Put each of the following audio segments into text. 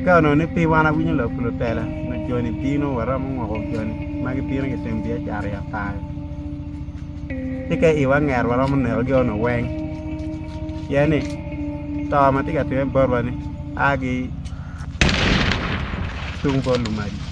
Akaka dong ni piwa an awinyo lok pi lutela ma joni bino waromo ngoko joni ma gibino gitimo biacara i apar. Ci ka iwa nget waromo nekogi onongo weng pien ni to ma tye ka timme botwa ni a ki tung bot lumaci.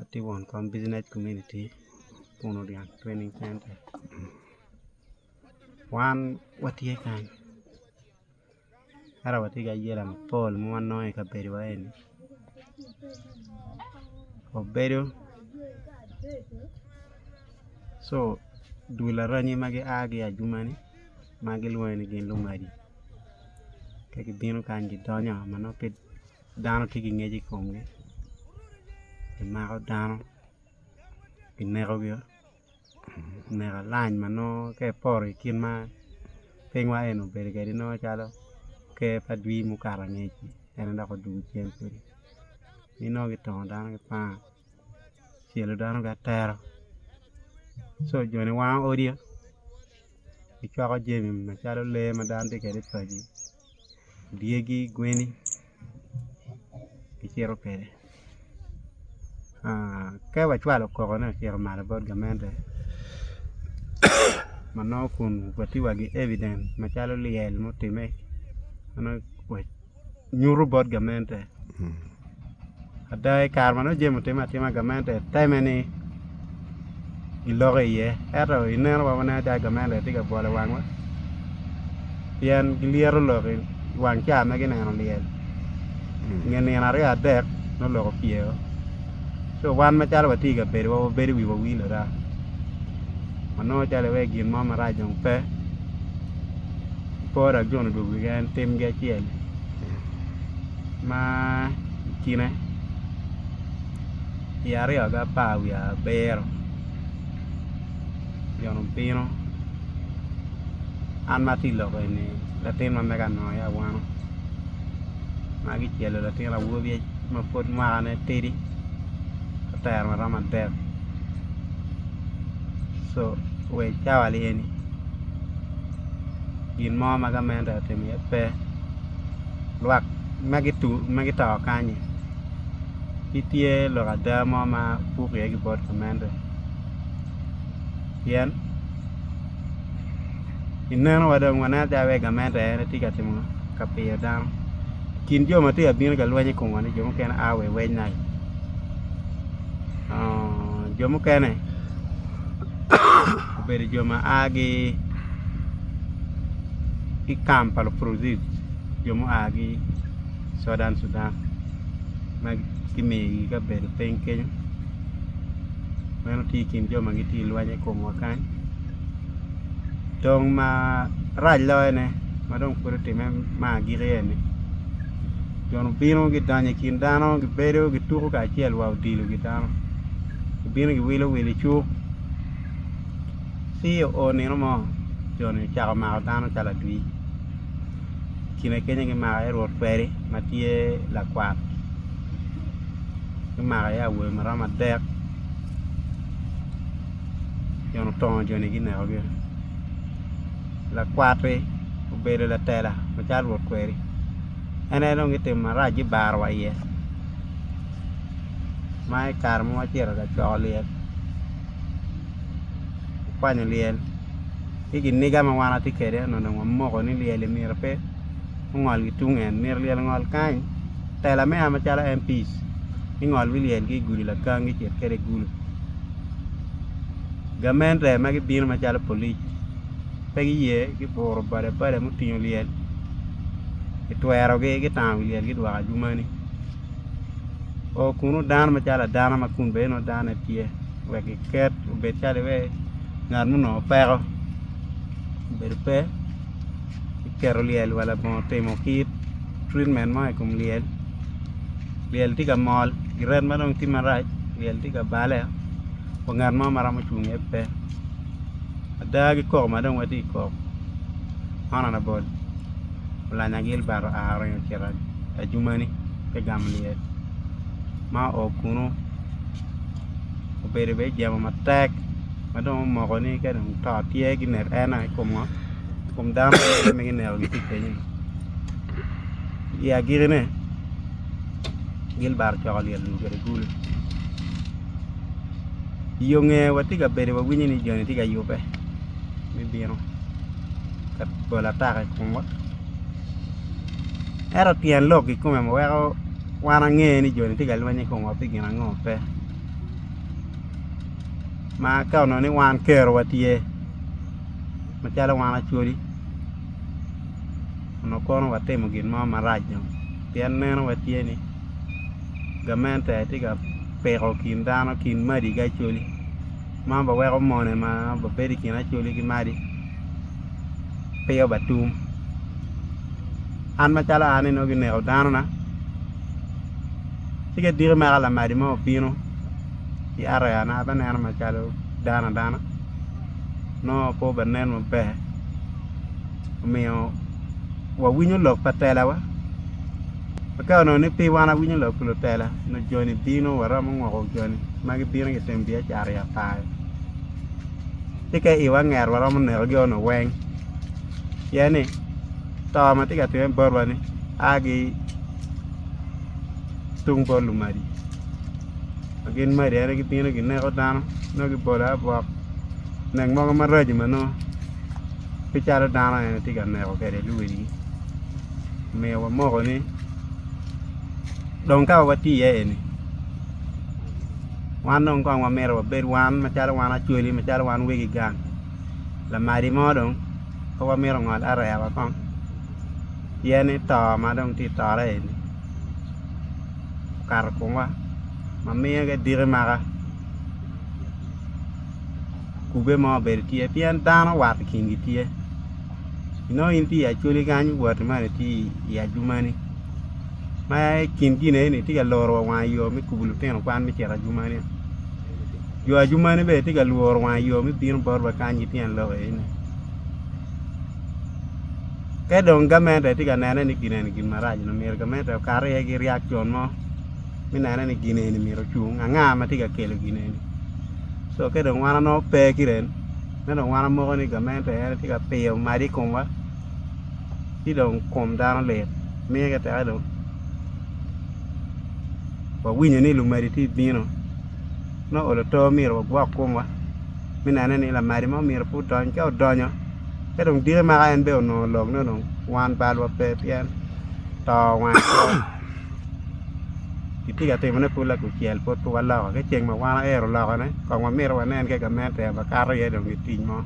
Atye won kom business community Puno dyang training center wan watye kany ento watye ki ayela mapol ma wanongo i kabedowa eni obedo co dul aranyi ma gia ki i ajumani ma gilwongo ni gin lumadi ka gibino kany gidonyo ma nongo pe Dano tye ki ngec i komgi, kimako dano kinekogi neno alanj ma nongo ka ipoto i kit ma pinywa eni obedo kwede nongo calo ker pa adwi ma okato angec-ci en aye dok odwogo cen kwede ci nongo kitongo dano ki panga kicelo dano ki atero co joni wango odi, gicwako jami macalo lee ma dano tye kwede i pagi. dyegi gweni kicito kwede ka wacwalo okokone ocito malo bot gamente ma nongo kun wati wa ki evident macalo lyel mutime ma nongo nyuto bot gamente. ada i kare ma nongo jami otimme atima gamente teme ni giloko iye ento i neno wa waneno calo gamente tye ka bwolo wangwa pien gilyeto lok i wang ca ma gineno lyel i nge nino aryo adek nongo lok opye o so wan macalo watye i kabedowa wabedo i wi wawil ada wanongo calo iwaci gin mo marac dong pe po dok jo onongo odwogo wigi en timgi acel ma i kine i ariya ki apar wiye abiro obyelo bino an ma atye i lok eni latin ma mega nongo aye awano ma kicelo latin awobi ma pud mwakane tidi otero ma romo adek so wa i cawa ni eni gin mo ma gamente atimo iye pe. lwak ma gito kany-nyi gitye lok ada mo ma pud peya gibot ki meno pien i neno wa dong waneno calo wai gamente en aye tye ka timo ka pyeyo dano i kin jo ma tye ka bino ka lweny i komwa-ni jo mukene aa wa i weny nai jo mukene Obedo jo ma a ki i kam pa lupurucit, jo mua ki Southern Sudan ma kimiyogi kabedo piny kenyo. Meno tye i kin jo ma gitye ka lweny i komwa kany. Dong marac loyone ma dong pud otimme me agikki eni, jo ni gibino gidonyo i kin dano gibedo gituko kacel wa odilogi dano gibino giwilo wil icuk. Ci oo nino mo jo-ni ocako mako dano calo adwir, kine keny aye gimako iye rwot kweri ma tye lakwat, gumako iye awobe ma romo adek pien otongo jo-ni ginekogi, lakwat-ti obedo latela macalo rwot kweri en aye dong gitimo marac gibaro wa iye ma i kare ma watye ka coko lyel. kwanyo lyel ci kiniga ma wan watye kwede nyo dong wamoko ni lyel myero pe ongol ki tung en myero lyel ongol kany tela me yamo calo MPs gingol ki lyel ki i gudi lakangi gicit kwede i gulu gamente ma gibino macalo polic pe giye giburo boda boda mutingo lyel kitwerogi gitamo wi lyel gidwoko adwomani. oo kunu dano macalo adano ma kun bene nongo dano tye wek giket obed calo iwee ngat ma onongo peko obedo pe ki keto lyel wa labongo timo kit treatment mo i kom lyel lyel tye ka mol i ret ma dong tye marac lyel tye ka bale wa ngat mo ma romo cung iye pe ada ki koko ma dong watye ka koko man aye labol. Olanya Gilbert oa oringo ocito Ajumani ki Gamlyel, ma oo kunu obedo bene ijemo matek ma dong omoko ni ka dong to tye ginek en ai ikom ngo ikom dano mukene ma gineko gitye kenyo ni. I agiki ne Gilbert ocoko lyel dul kwede gulu. Iyonge watye ka bedo wawinyo ni joni tye ka yubbe. me bino ka bolo ataka i komwa ento tyen lok kikome weko wan ange ni joni tye ka lweny ki komwa pi gin ango pe ma ka onongo ni wan kerowa tye macalo wan Acholi onongo kono watimo gin mo marac dong pien neno wa tye ni gamente aye tye ka piko kin dano kin madi ki Acholi. ma ba weko mone ma ba bedo i kin acholi ki madi peya ba tum an macalo an ni nongo gineko dano na ci ka i diki mere ka lamadi mo obino ki areya na abe neno macalo dano adana nongo pe obe nen maber omiyo wa winyo lok pa tela wa Aka onongo ni piny wan awinyo lok pi lutela nyo joni bino waromo ngoko joni ma gibino ki iteng biacara i apaya ci ka iwa anget waromo neko gi ono weng pien ni to ma tye ka timme botwa ni a ki tung bot lumadi ma gin madi ene gibino gineko dano nongo gibolo abok nek mogo maraco manongo pe calo dano en aye tye ka meko kwede luwil omyero wamoko ni dong ka watye iye eni wan dong kong wamito wabed wan macalo wan acholi macalo wan wegi gang lamadi mo dong pe wamito ongol areya wa kong pien ni to ma dong tye ka tore eni okato i komwa ma miyo ki diki maka. kube mo obedo tye pien dano wat i kingi tye inongo in tye i acholi kany iwoti ma itye i ajumani ma i kin gin eni tye ka loro wa wang i yo me kubo lutino kwan me cito ajumani jo ajumani bene tye ka lworo wang i yo me bino bot wa kany ki tyen lok eni te dong gamente tye ka nene ni gin eni gin marac myero gamente okat iye ki ryek con mo me neno ni gin eni myero ocung anga ma tye ka kelo gin eni co ka dong wan onongo pe ki rem ma dong wan wamoko ni gamente en aye tye ka piyo madi i komwa ci dong kom dano lit miti tek dong wawinyo ni lumadi tye ka bino me olo oto myero wagwok komwa me neno ni lamadi mo myero pe odony ka odonyo ka dong diki maka en bene onongo lok ne dong wan bal wa pe pien to wang kitye ka timone pud lakucel pud pe waloko ki ceng ma wan wayero lokone kong wamito wanen ka gamente en aye kato iye dong gitic mo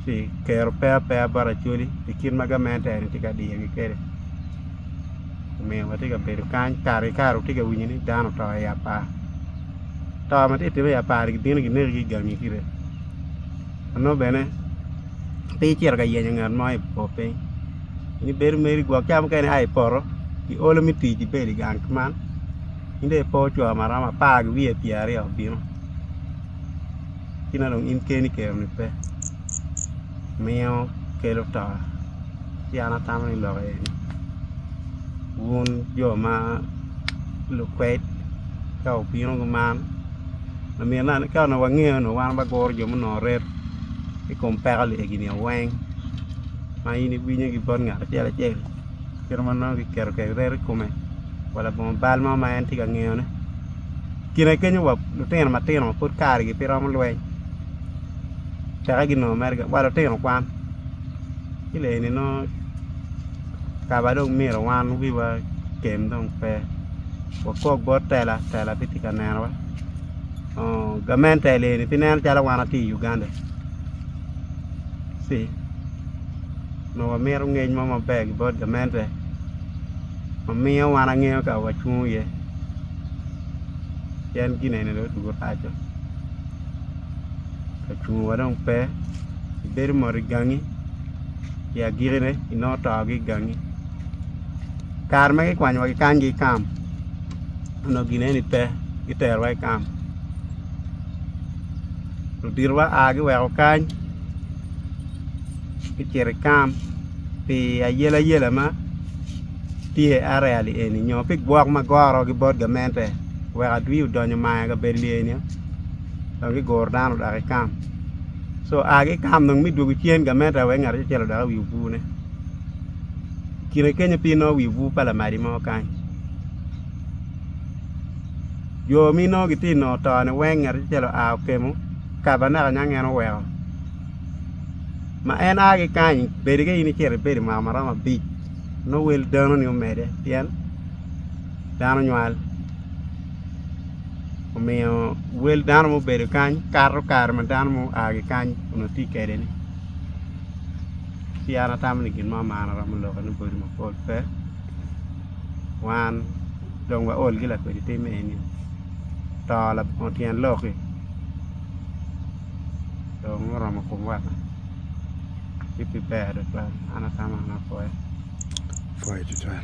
ci kero pe apeya bot Acholi pi kit ma gamente eni tye ka diyogi kwede omiyo watye ka bedo kany kare ki kare watye ka winyo ni dano oto i apar to ma tye ka timone i apar-ri gibino gineko ki i gangi kite ma nongo bene pe icito ka yenyo ngat mo i bor piny. In ibedo meri gwok ca mukene ia i poto ki olo me tic ibedo i gang man in dong ipo co ma romo apar ki wiye pyera aryo bino ci nongo dong in keni keroni pe miyo kelo to ci an atamo ni lok aye ni wun jo ma lukwed ka wubino ki man myero ka onongo wangeyo onongo wan waguro jo munongo reto i kom peko egini weng. ma in iwinyo ki bot ngat acel acel kit ma nongo kiketo kwede reto i kome wa labongo bal mo ma en tye ka ngeyone i kine kenyo wa lutino matino ma pud karigi pe romo lweny teke ginongo mere gin wa lutino kwan ki lok eni nongo kaba dong mito wan wiwa otem dong pe wakok bot tela tela pe tye ka nenowa gamente eni pe nen calo wan watye i Uganda. ci nongo wamito ngec mo maber ki bot gamente ma miyo wan angeyo ka wacungo iye pien gin eni dong odwogo paco ka cungo wa dong pe ibedo mot igangi i agikine inongo to ki igangi kare ma kikwanyo wa kikany ki kam onongo gin eni pe gitero wa ki kam luditowa aa giweko kany gucito i kam pi ayelayela ma tye arali eni nyo pi gwok ma gorogi bot gamente wek adwi odonyo mayo i kabedo lye ni dong giguro dano odok ki kam co aa ki kam dong me dwogo cen gamente wek ngat acel odok i wi obwone kine kenyo pe inongo wi obwu pa lamali mo kany Jo mi nongo gitye ka nongo tone weng ngat acel oa okemo kabanakel niang en oweko ma en a ki kany bedi ka in icito ibedo mwaka ma romo abic nongo wel dano ni omede pien dano nywal omiyo wel dano ma obedo kany kato kare ma dano ma oa ki kany onongo tye kede ni ci an atamo ni gin mo man aromo lokke ni odi mapol pe wan dong waol ki lakwede tim eni to labongo tyen lok-ki dong oromo komwa ci pe ber tutwal an atamo ni apwoyo apwoyo tutwal